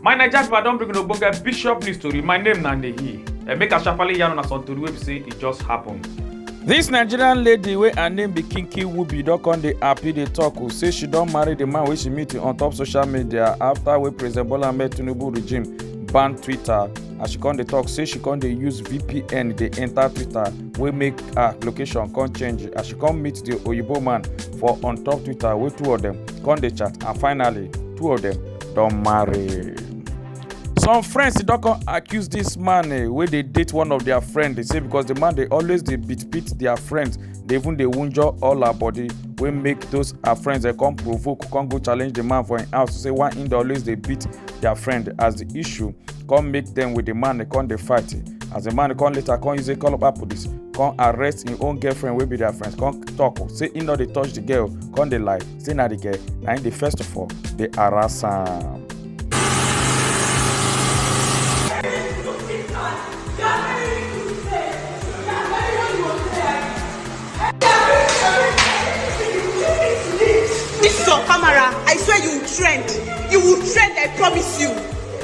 my naija people i don bring una ogbonge bishop news tori my name na nehi eh, make i sharparly yarn una some tori wey be say e just happen. This nigerian lady wey her name be kinky wubi don come dey happy dey talk o oh, say she don marry the man wey she meet on top social media after wey president bola ahmed tinubu regime ban twitter as she come dey talk say she come dey use vpn dey enter twitter wey make her location come change as she come meet the oyibo man for on top twitter wey two of them come dey chat and finally two of them don marry. some friends don come accuse this man eh, wey dey date one of their friend dey say because the man dey always dey beat beat their friends dey even dey wunjure all her body wey make those her friends dey come provoke come go challenge the man for im house say why im dey always dey beat their friend as the issue come meet dem with the man dey come dey fight as the man come later come use a call up police come arrest im own girlfriend wey be their friends come talk say im no dey touch the girl come dey lie say na the girl na im dey first of all dey harass am. This is on camera. I swear you will trend. You will trend, I promise you.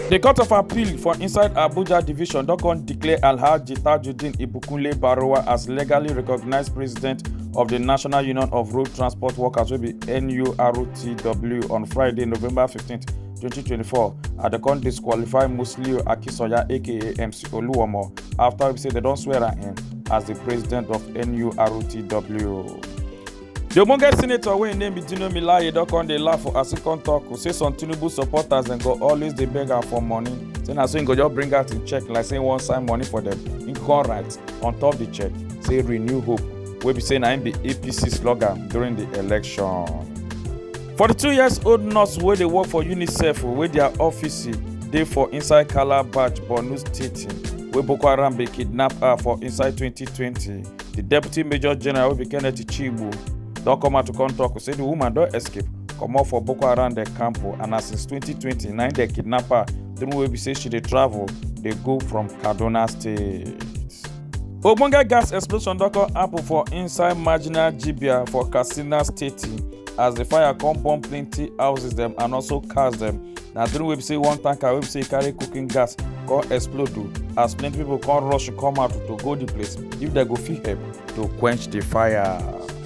The Court of Appeal for inside Abuja Division don come declare Alhaji Tajudeen Ibukunle Barowa as legally recognized president of the National Union of Road Transport Workers wey be NURTW on Friday, November 15, 2024 and dem come disqualify Musiliu Akinsanya aka MC Oluomo after we say they don't swear am in as the president of NURTW. The ogbonge senator wey im name be Dino Melaye don come dey laugh for as e come talk say some Tinubu supporters dem go always dey beg am for money say na so im go just bring out im check like say im wan sign money for dem im come write on top the check say renew hope wey be say na im be APC slogan during the election. 42 years old nurse wey dey work for unicef wey dia office dey for inside calabash borno state wey boko haram bin kidnap her for inside 2020 di deputy major general wey be kenneth chigbu don come out to come tok say di woman don escape comot for boko haram dem camp and na since 2020 na im dem kidnap her during wey be say she dey travel dey go from kaduna state. ogbonge gas explosion don come happen for inside marginal jibia for katsina state as the fire come burn plenty houses dem and also cars dem na during wey be say one tanker wey be say e carry cooking gas come explode o as plenty people come rush come out to go the place if dem go fit help to quench the fire.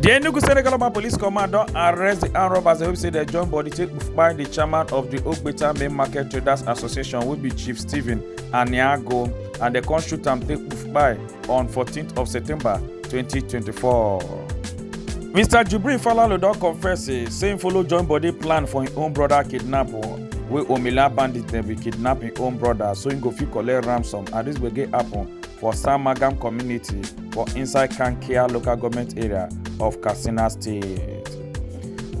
di enugu state local police command don arrest di armed robbers wey say dem join body take kpai di chairman of di ogbeta main market traders association wey be chief stephen aniago and dem come shoot am take kpai on 14th of september 2024. mr jubril falalu don confess say say im follow join body plan for im own brother kidnap wey omila bandits dem bin kidnap im own brother so im go fit collect ransom and dis gbege happun for samagam community for inside Kankia local government area of Katsina State.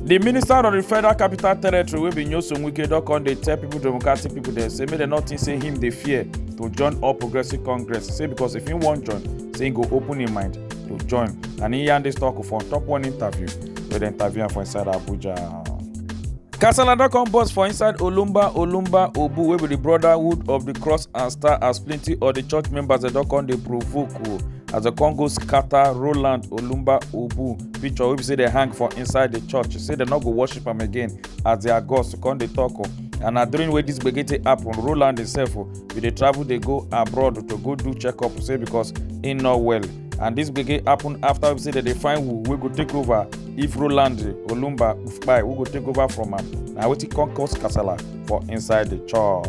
The minister of the Federal Capital Territory wey be Nyesom Wike don come dey tell people democratic people dem say make dem no think say him dey fear to join All Progressives Congress say because if him wan join say he go open him mind to join and he yarn this talk for on top one interview wey dem interview am for inside Abuja. kasala don come burst for inside olumba olumba obu wey be di brotherhood of di cross and star as plenty of di church members dem don come dey provoke o as dem come go scatter roland olumba obu picture wey be say dem hang for inside di church say dem no go worship am again as dia gods come dey tok o and na during wey dis gbege take happen roland himself o bin dey travel dey go abroad to go do check up say because im no well and dis gbege happen afta we say dem dey find who wey go take over if roland olumba kpai wey go take over from am na wetin come cause kasala for inside di church.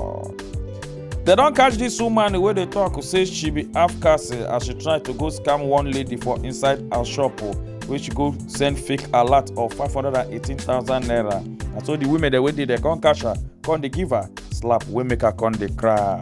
dem don catch dis woman wey dey tok say she be half caste as she try to go scam one lady for inside her shop wey she go send fake alert of 518000 naira na so di women dem wey dey there come catch her come dey give her slap wey make her come dey cry.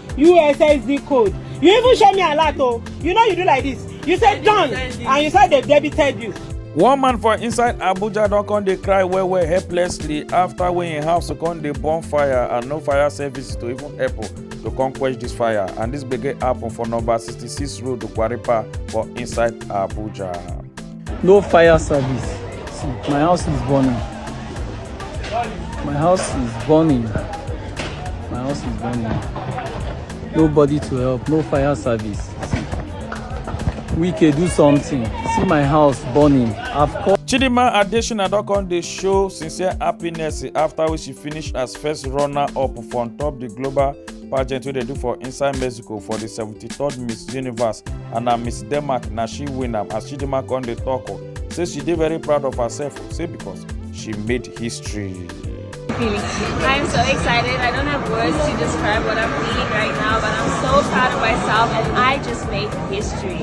USSD code. You even show me a lot, oh. You know you do like this. You said done, and you said they debited you. one man for inside abuja don come dey cry well well helplessly after wey im house come dey burn fire and no fire service to even help to come quench dis fire and dis gbege happen for number sixty-six road kwaripa for inside abuja. No fire service. See, my house is burning. My house is burning. My house is burning. Nobody to help. No fire service. See. We can do something. See my house burning. I've called. Chidima Adesina don come dey show sincere happiness after wey she finish as first runner-up for on top di global pageant wey dey do for inside mexico for di 73rd miss universe and na miss denmark na she win am as chidimma come dey tok o say she dey very proud of herself o say because she made history. I'm so excited. I don't have words to describe what I'm feeling right now, but I'm so proud of myself and I just made history.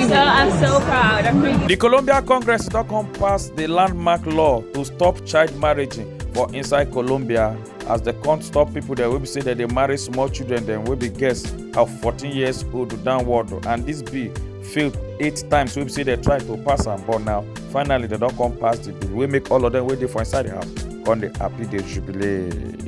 So I'm so proud. I'm really The Colombia Congress don come pass the landmark law to stop child marriage for inside Colombia. as dem come stop people dem wey be say dem dey marry small children dem wey be girls of fourteen years old downward and this bill fail eight times wey be say dem try to pass am but now finally dem don come pass the bill wey make all of them wey dey for inside the house come dey happy dey jubilate.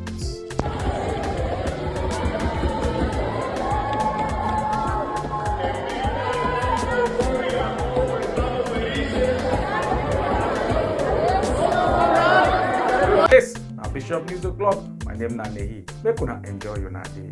na bishop news o'clock my name na nehi make una enjoy una day.